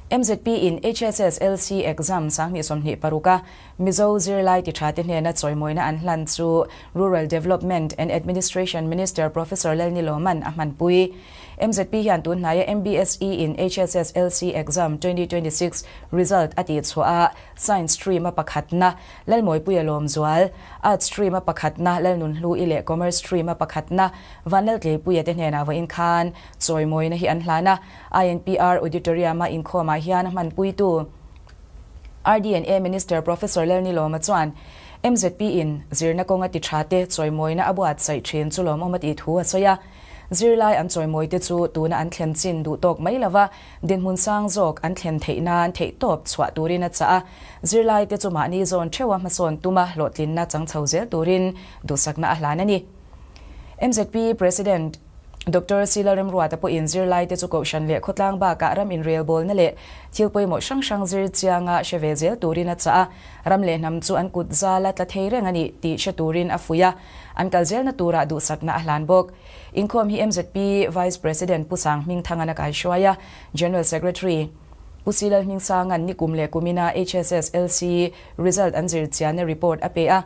Mzp in HSSLC exam sang hnih sawmhnih paruk a Mizo zirlai tiṭha te hnena chawimawina an hlan chu Rural Development and Administration Minister Professor Lelni Lawman a hmanpui. Mzp hian tun hnaia MBSE in HSSLC exam twenty twenty six result a tihchhuah a Science stream a pakhatna Lalmawipui a lawmzual, Arts stream a pakhatna Lalnunhlui leh Commerce stream a pakhatna Vanlaltleipui a te hnenah vawiin khan chawimawina hi an hlan a. INPR Auditorium-a inkhawmah hian a hmanpuitu Rd&A Minister Professor Lel Nilawma chuan MZP in zirna kawnga ti tha te chawimawina a buatsaih thin chu lawmawm a tih thu a sawi a. Zirlai an chawimawite chu tuna an thlen chin duh tawk mai lova dinhmun sang zawk an thlen theih nan theih tawp chhuah turin a chah a. Zirlaite chu mahni zawn theuha hmasawn tuma hlawhtlinna changchho zel turin duhsakna a hlan a ni. MZP President. Doctor Sila Remruata pawhin zirlaite chu kohhran leh khawtlang bakah ram inrelbawlna leh thil pawimawh hrang hrang zir chianga hre ve zel turin a chah a, ram leh hnam chu an kut zal a, tla thei reng a ni tih hre turin a fuih a, an kal zelna turah duhsakna a hlan bawk. Inkhawm hi mzp Vice President Pu Sanghming Thangan a kaihruai a, General Secretary Pu Silal Hmingsangan ni kum leh kumin a HSSLC result an zir chianna report a pe a,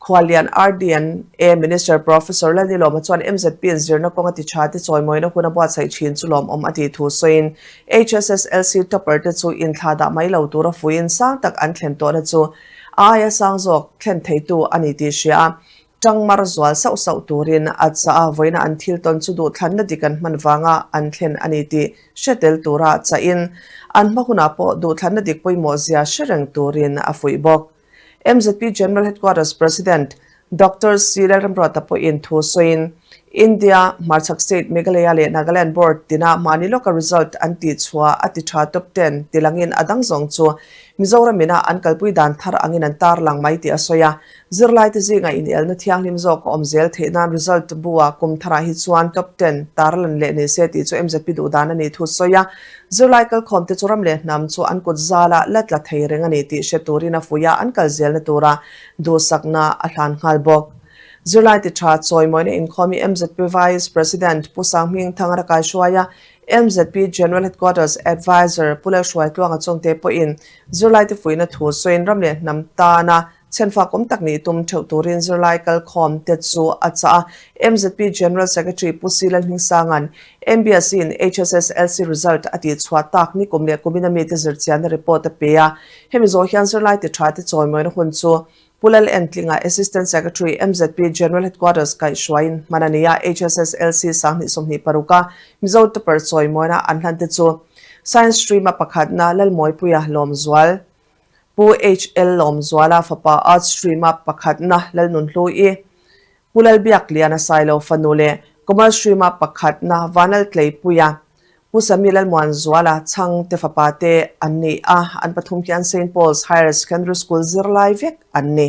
Khualian RDNA Minister Professor Lalli Lawma chuan MZP in zirna kawng a ti tha te chawimawina hun a buatsaih thin chu lawmawm a tih thu sawiin HSSLC topper te chu inthla dah mai lo tura fuiin sang tak an thlen tawhna chu a aia sang zawk thlen theitu a ni tih hria a tang mar zual sauh sauh turin a caah vawiina an thil tawn chu duhthlanna dik an hman vanga an thlen a ni tih hre tel tura chahin an hma hunah pawh duhthlanna dik pawimawhzia hre reng turin a fuih bawk. MZP General Headquarters President Doctor Sri Lal Ramprata pawhin thu sawiin, India hmarchhak state Meghalaya leh Nagaland board tina mahni lawka result an tih chhua a ti tha top ten ti langin a dang zawng chu Mizoram ina an kalpui dan thar angin an tarlang mai tih a sawi a. Zirlaite zingah inelna thianghlim zawk a awm zel theih nan result bua kum tharah hi chuan top ten tarlan leh nise tih chu MZP duhdan a nih thu sawi a. Zirlai kalkhawmte chu ram leh hnam chu an kut zala la tla thei reng a ni tih hre turin a fuih a, an kal zelna tura duhsakna a hlan nghal bawk. Zirlai ti tha chawimawina inkhawmi mzp Vice President Pu Sanghming Thang a ra kai hruai a, mzp General Headquarters Advisor Pu Lalhruai Tluanga chungte pawhin Zirlaite fuihna thu sawiin ram leh hnam tana Chhen fakawm tak nih tum theuh turin zirlai kal khawm te chu a chah a. Mzp General Secretary Pu Silan Hmingsanga'n MBSE-in HSSLC result a tihchhuah tak ni kum leh kumin a mite zirchianna report a pe a. Hemi zawh hian zirlai ti tha te chawimawina hun chu Pu Lal En Tling-a Assistant Secretary Mzp General Headquarters kaihhruaiin hman a ni a. HSSLC sang hnih sawmhnih paruka Mizo topper chawimawina an hlan te chu Science Stream-a pakhatna Lalmawipui-a lawmzual Pu HL Lawmzuala fapa Art Stream a pakhatna Lalnun hlu i Pu Lalbiaklian a sailo fanu leh Komal Stream a pakhatna Vanlal Tleipuia Pu Sami Lalmuanzuala chhang te fapa te an ni a, an pathum hian Saint Paul's Higher Secondary School zirlai vek an ni.